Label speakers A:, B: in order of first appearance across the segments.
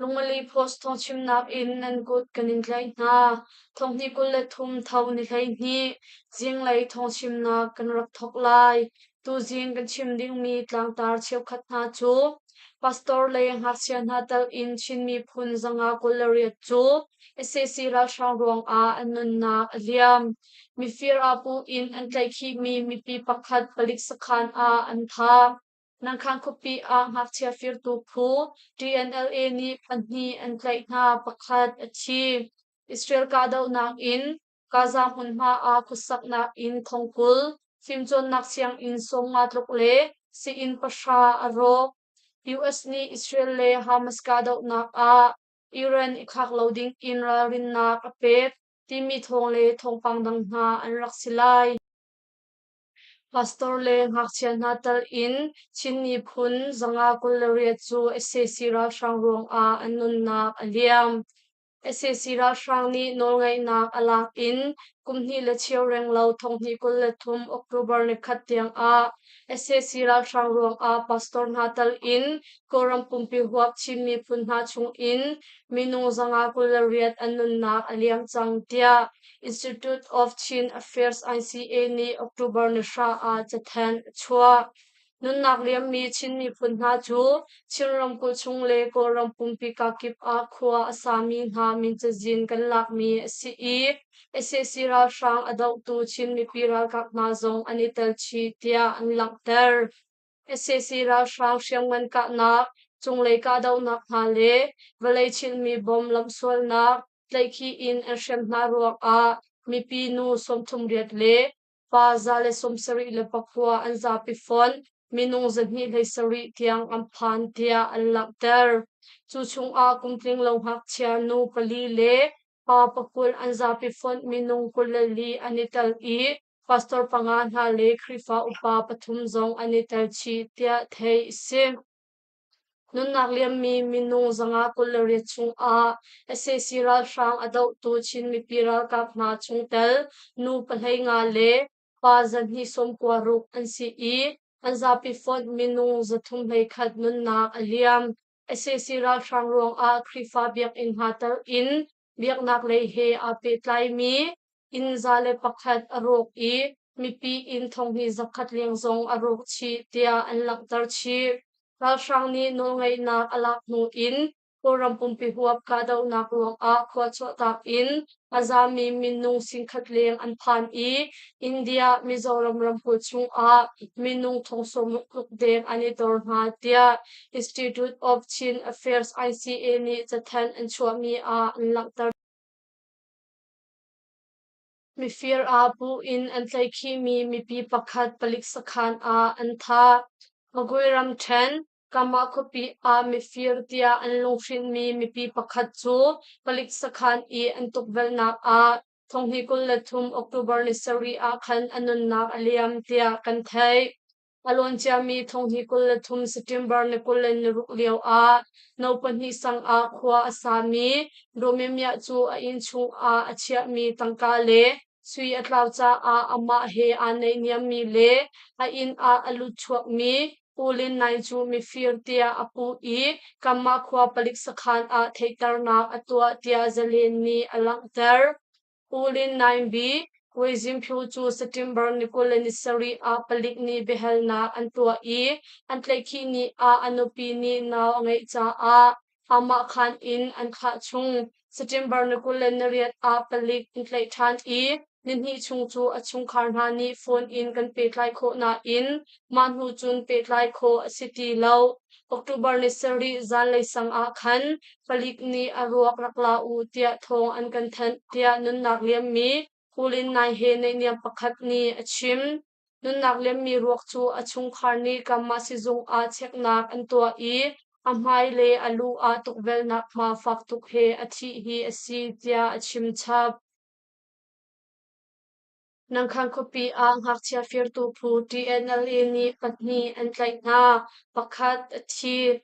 A: Lungmali post thawngchimnak in nan kut kan in tlaih hna. Thonghnih kul le thum tho ni hleihnih zinglei thawngchimnak kan rak thawk lai. Tuzing kan chim dingmi tlangtar cheukhat hna cu pastor le ngakchia hna telh in Chin miphun zanga kul le riat cu SAC ralhrang ruangah an nunnak a liam. Mifir aa puh in an tlaihkhihmi mipi pakhat palik sakhan ah an tha. Nangkhan khuapi ah ngakchia firtu phu TNLA nih pahnih an tlaih hna, pakhat a thi. Israel kahdohnak in Gaza hmunhma ah khuasaknak in thongkul, fimcawnnak sianginn sawm nga tluk le sii-inn pahra a rawk. US nih Israel le Hamas kahdohnak ah Iran i khak lo ding in ralrinnak a pek timi thawng le thawngpang dang hna an rak si lai. Pastor le ngakchia hna tal in Chin miphun zanga kul le riat cu sac ralhrang ruangah an nunnak a liam. sac ralhrang nih nawlngeihnak a lak in kum hnih le cheu reng lo thonghnih kul le thum October ni khat tiangah sac ralhrang ruangah pastor hna tal in Kawlram pumpi huap Chin miphun hna chungin minung zanga kul le riat an nunnak a liam cang tiah Institute of Chin Affairs ICA nih October ni hra ah cathanh a chuah. Nunnak liammi Chin miphun hna cu Chin ramkulh chung le Kawlram pumpi kakip ah khua a sami hna min cazin kan lakmi a si i SAC ralhrang a dohtu Chin mipi ralkap hna zong an i tel chih tiah an langhter. Sac ralhrang hriamngan kahnak, cunglei kahdohnak hna le vawlei chilhmi bom lamsualnak tlaihkhih in an hrem hna ruangah mipi nu sawmthum riat le pa za le sawmsarih le pakua an zapi fonh, minung zahnih hlei sarih tiang an phan tiah an langhter. Cu chungah kum tlinglo ngakchia nu pali le pa pakul an zapi fonh minung kul le li an i tel i Pastor panga hna le Khrihfa upa pathum zong an i tel chih tiah theih a si. Nunnak liammi minung zanga kul le riat chungah sac ralhrang a dohtu Chin mipi ralkap hna chungtel nu pahlei nga le pa zarhhnih sawmkua ruk an si i an zapi fonh minung zathum hlei khat nunnak a liam. sac ralhrang ruangah Khrihfa biakinn hna telh in biaknaklei he aa pehtlaimi inn za le pakhat a rawk i mipi inn thonghni zakhat leng zong a rawk chih tiah an langhter chih. Ralhrang nih nawlngeihnak a lak hnu in Kawlram pumpi huap kahdohnak ruangah khua chuahtak in a zami minung singkhat leng an phan i India Mizoram ramkulh chungah minung thong sawm tluk deng an i dor hna tiah Institute of Chin Affairs ICA nih cathanh an chuahmi ah an langhter. Mifir ah bu in an tlaihkhihmi mipi pakhat palik sakhan ah an tha. Magui ramthen Kama khuapi ah mifir tiah an lunghrinhmi mipi pakhat cu palik sakhan i an tukvelhnak ah thonghni kul le thum October ni sarih ah khan a nunnak a liam tiah kan theih. A lawn ciami thong hnih kul le thum September ni kul le naruk lioah no pahnih sang ah khua a sami Romemia cu a inn chungah a chiahmi tangka le sui a tlau caah amah he aa naihniammi le a inn ah a lut chuakmi Pu Lin Nai cu mifir tiah a puh i Kamah khua palik sakhan ah theihternak a tuah tiah zalen nih a langhter. Kulin nainbi Kuizingphu cu September ni kul le ni sarih ah palik nih biahalnak an tuah i an tlaihkhih ni ah a nupi nih nau a ngeih caah amah khan in an thah chung. September ni kul le nariat ah palik in tlaih ṭhan i nihnih chung cu a chungkhar hna nih phone in kan pehtlai khawh nain mah hnu cun pehtlai khawh a si ti lo. October le sarih zanlei sang ah khan palik nih a ruak rak la u tiah thawng an kan thanh tiah nunnak liammi Kulin-nai he neihniam pakhat nih a chim. Nunnak liammi ruak cu a chungkhar nih Kamma sizung ah cheknak an tuah i a hmai le a lu ah tukvelhnak hma fak tuk he a thih hi a si tiah a chim chap. Nangkhan khuapi ah ngakchia firtu phu TNLA nih pahnih an tlaih hna, pakhat a thi.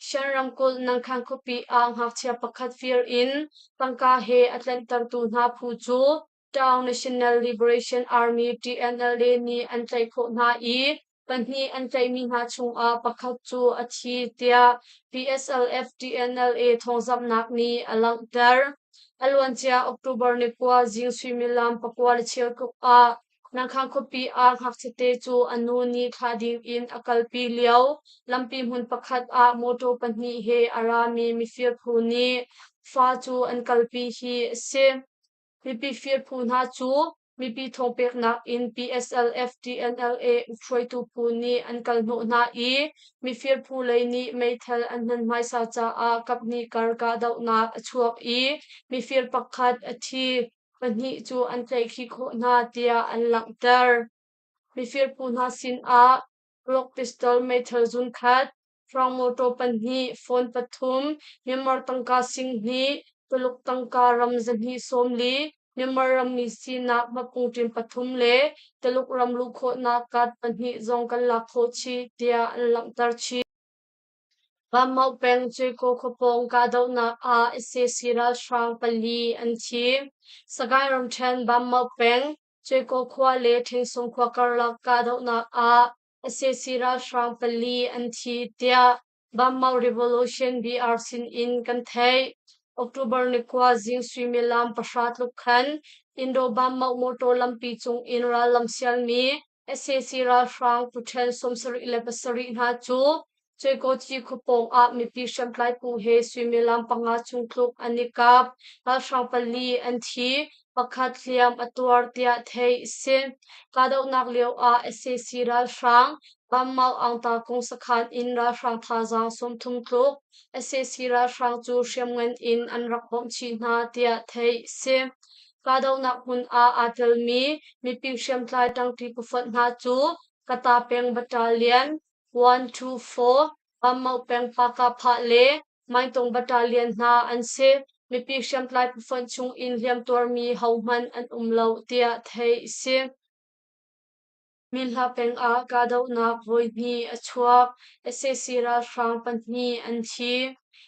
A: Shan ramkulh Nangkhan khuapi ah ngakchia pakhat fir in tangka he a tlanhtertu hna phu cu Tang National Liberation Army TNLA nih an tlaih khawh hna i Pahnih an tlaimi hna chungah pakhat cu a thi tiah PSLF TNLA thawngzamhnak nih a langhter. A luancia October ni kua zing suimilam pakua le chiarkuk ah Nangkhang khuapi ah ngakchiate cu a nu nih thlah ding in a kalpi lio lampi hmun pakhat ah motor pahnih he a rami mifir phu nih fa cu an kalpi hi a si. Mipi firphu hna cu mipi thaw peknak in PSLF TNLA hruaitu phu nih an kal hnawh hna i mifirphu lei nih meithal an hman hmaisa caah kaphnih kar kahdohnak a chuak i mifir pakhat a thi, pahnih cu an tlaihkhih khawh hna tiah an langhter. Mifirphu hna sinah Clock pistol meithal zunkhat, hrawng mawṭaw pahnih, phone pathum, memar tangka singhnih, Tuluk tangka ram zahnih sawm li, memar rammi sinak mapungṭin pathum le Taluk ram luh khawhnak card pahnih zong kan lak khawh chih, tiah an langhter chih. Vanmauh peng Cuico khuapawng kahdohnak ah ICC ralhrang pali an thi. Sagaing ramṭhen Vanmauh peng, Ceko khua le Ṭhengsung khua karlak kahdohnak ah sac ralhrang pali an thi tiah Banmau Revolution BR sinin kan theih. October ni khua zing suimilam pahra tluk khan Indo-Banmau motor lampi cungin rallam sialmi sac ralhrang tuṭhen sawmsarih le pasarih hna cu Cekoci khuapawng ah mipi hriamtlai phu he suimilam panga chung tluk an i kap. Ralhrang pali an thi, pakhat hliam a tuar tiah theih a si. Kahdohnak lio ah sac ralhrang Banmal Angta kung sakhan in ralhrang thazaang sawmthum tluk sac ralhrang cu hriamngan in an rak bawmh chih hna tiah theih a si. Kahdohnak hmun ah aa telmi mipi hriamtlai ṭangṭi pafonh hna cu Kata peng Battalion, One, two, four, Ammauk peng Pakapha le Maitung battalion hna an si. Mipi hriamtlai pafonh chung in hliamtuarmi hohmanh an um lo tiah theih a si. Minhla peng ah kahdohnak voi hnih a chuak. sac ralhrang pahnih an thi.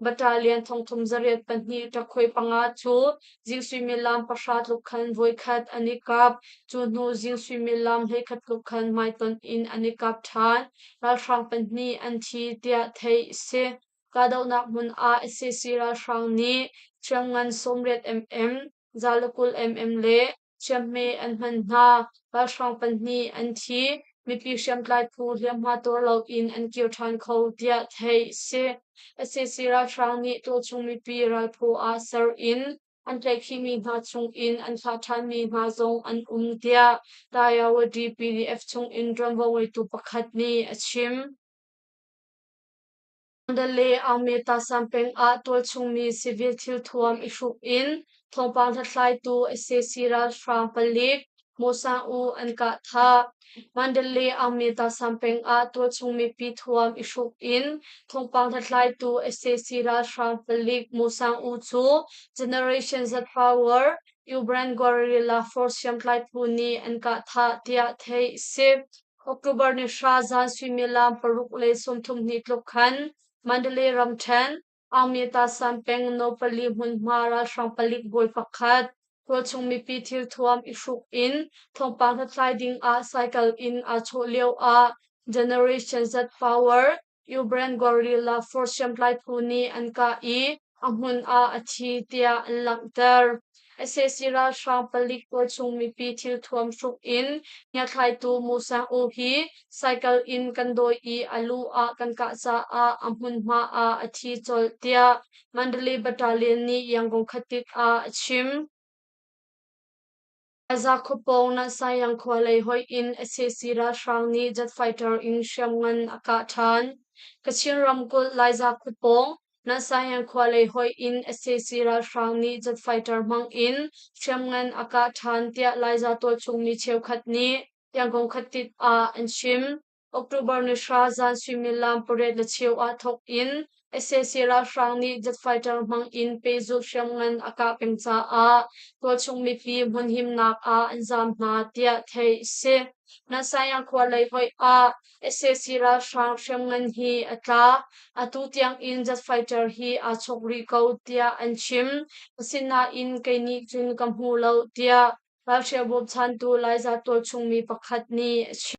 A: Battalion thongthum zariat pahnih takhui panga cu jing suimilam pahra tluk khan voikhat an i kap. Cu hnu jing suimilam hleikhat tluk khan hmaitonh in an i kap ṭhan. Ralhrang pahnih an thi tiah theih a si. Kahdohnak hmun ah SCC ralhrang nih thiam ngan sawmriat mm Zalakul MM le Chiahme an hman hna, ralhrang pahnih an thi, mipi hriamtlai phu hliamhma tuar loin an kir ṭhan kho, tiah theih a si. SAC ralhrang nih tuchung mipi ralphu ah ser in an tlaihkhimi hna chungin an thlah ṭhanmi hna zong an um, tiah Tayawa DPDF chungin ṭuanvo ngeitu pakhat nih a chim. Sandal le Aungmeta sam peng ah tualchungmi civil thilthuam i hruk in thawngpang hlathlaitu sac ralhrang palik Mo Sang U an kah thah. Mandal le Aungmeta sam peng ah tualchung mipi thuam i hruk in thawngpang hlathlaitu sac ralhrang palik Mo Sang U cu Generation Z Power Ubran Guerrilla Force hriamtlai phu nih an kah thah tiah theih a si. October ni hra zan suimilam paruk le sawmthum hnih tluk khan Mandalay ramṭhen Aungmyatsan peng no pali hmunhma ralhrang palik bawi pakhat tualchung mipi thilthuam i hruk in thawngpang hlathlai ding ah cycle in aa chawh lio ah Generation Z Power Iubran gorilla for hriamtlai phu nih an kah i a hmun ah a thi tiah an langhter. SAC ralhrang palik pawl chung mipi thil thuam hruk in hniathlaitu Musa U hi cycle in kan dawi i a lu ah kan kah caah a hmunhma ah a thi colh tiah Mandalay Battalion nih Yangon khatit ah a chim. Gaza khua pawng Nansayang khualei hoih in SAC ralhrang nih jet fighter in hriamngan a kah ṭhan. Kachin ramkulh Laiza khua pawng Nansayang khualei hoih in SAC ralhrang nih jet fighter hmang in hriamngan a kah ṭhan tiah Laiza tualchung mi cheukhat nih Yangon khuatit ah an chim. October ni hra zan suimilam pariat le cheu ah thawk in sac ralhrang nih jet fighter hmang in pehzulh hriamngan a kah peng caah tualchung mipi hmunhimnak ah an zaam hna tiah theih a si. Nasayang khua lei hoih ah sac ralhrang hriamngan hi a tla. Atu tiang in jet fighter hi aa chuk rih ko tiah an chim. Asinain kei nih cun ka hmu lo tiah ralhrial bawmchantu Laiza tualchung mi pakhat nih a chim.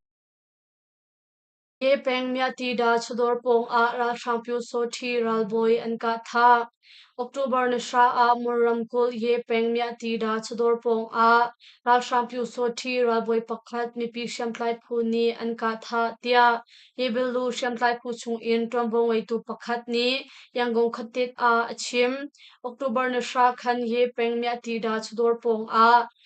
A: Ke pengmi Tida chawdawr pawngah ralhrang pyusawṭhi ralbawi an kahthah. October ni hra ah Mur ramkulh Ye pengmi Tida chawdawr pawngah ralhrang pyusawṭhi ralbawi pakhat mipi hriamtlai phu nih an kahthah tiah Yebilu hriamtlai phu chungin ṭuanvo ngeitu pakhat nih Yangon khuatit ah a chim. October ni hra khan Ye pengmi Tida chawdawr pawngah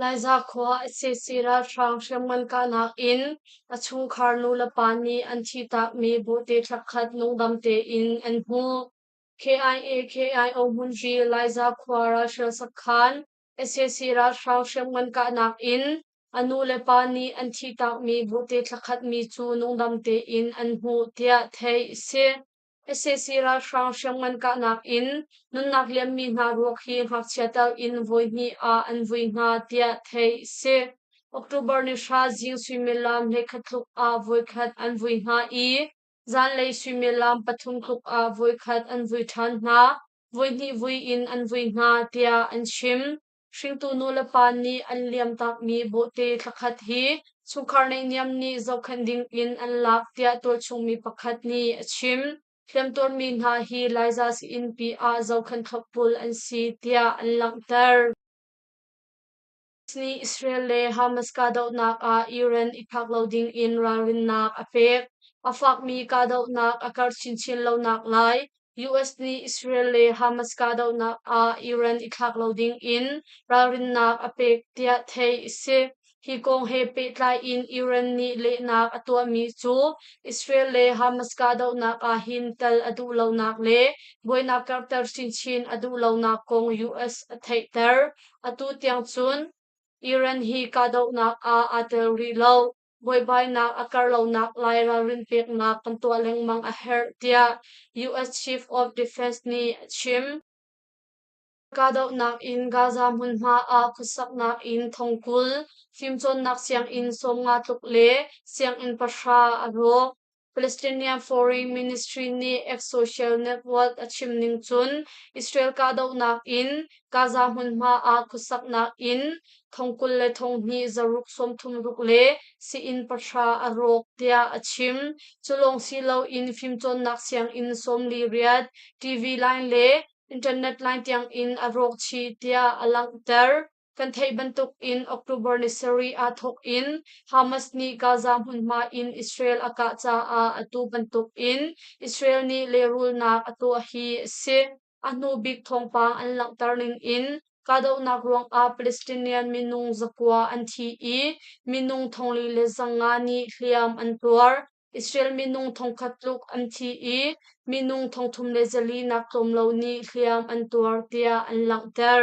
A: Laiza khua sac ralhrang hriamngan kahnak in a chungkhar nulepa nih an thihtakmi bawhte thlakhat nungdam tein an hmuh. KIA KIO Hmunri Laiza khua ralhrial sakhan sac ralhrang hriamngan kahnak in a nulepa nih an thihtakmi bawhte thlakhatmi cu nungdam tein an hmuh tiah theih a si. sac ralhrang hriam ngan kahnak in nunnak liammi hna ruak hi ngakchia tal in voi hnih ah an vui hna tiah theih a si. October ni hra zing suimilam hleikhat tluk ah voikhat an vui hna i zanlei suimilam pathum tluk ah voikhat an vui ṭhan hna, voi hnih vui in an vui hna tiah an chim. Hringtu nulepa nih an liamtakmi bawhte thlakhat hi chungkhar neihniam nih zohkhenh dingin an lak tiah tualchungmi pakhat nih a chim. Hliamtuarmi hna hi Laiza sii-innpi ah zohkhenh thlopbul an si tiah an langhter. Nih Israel le Hamas kahdohnak ah Iran i phak lo dingin ralrinnak a pek. A fakmi kahdohnak a karh chinchin lonak lai US nih Israel le Hamas kahdohnak ah Iran i thlak lo ding in ralrinnak a pek tiah theih a si. Hi kong he pehtlai in Iran nih lehnak a tuahmi cu Israel le Hamas kahdohnak ah hin tel a duh lonak le buainak karhter chinchin a duh lonak kong US a theihter. Atu tiang cun Iran hi kahdohnak ah aa tel rih lo. buaibainak a kar lonak lai ralrin peknak kan tuah lengmang a herh tiah US Chief of Defense nih a chim. Kahdohnak in Gaza hmunhma ah khuasaknak in thongkul, fimcawnnak sianginn sawmnga tluk le sianginn pahra a rawk. Palestinian Foreign Ministry nih X social network a chim ning cun Israel kahdohnak in Gaza hmunhma ah khuasaknak in thong kul le thong hnih zaruk sawmthum ruk le sii-inn pahra a rawk tiah a chim. Cu lawng si loin fimcawnnak sianginn sawmli riat, TV line le internet line tiang in a rawk chih tiah a langhter. Kan theih bantuk in October ni sarih aa thawk in Hamas nih Gaza hmunhma in Israel a kah caah atu bantuk in Israel nih lehrulnak a tuah hi a si. A hnu bik thawngpang an langhter ning in kahdohnak ruangah Palestinian minung zakua an thi i minung thongli le zanga nih hliam an tuar. Israel minung thongkhat tluk an thi i minung thongthum le zali nak tlawm lo nih hliam an tuar tiah an langhter.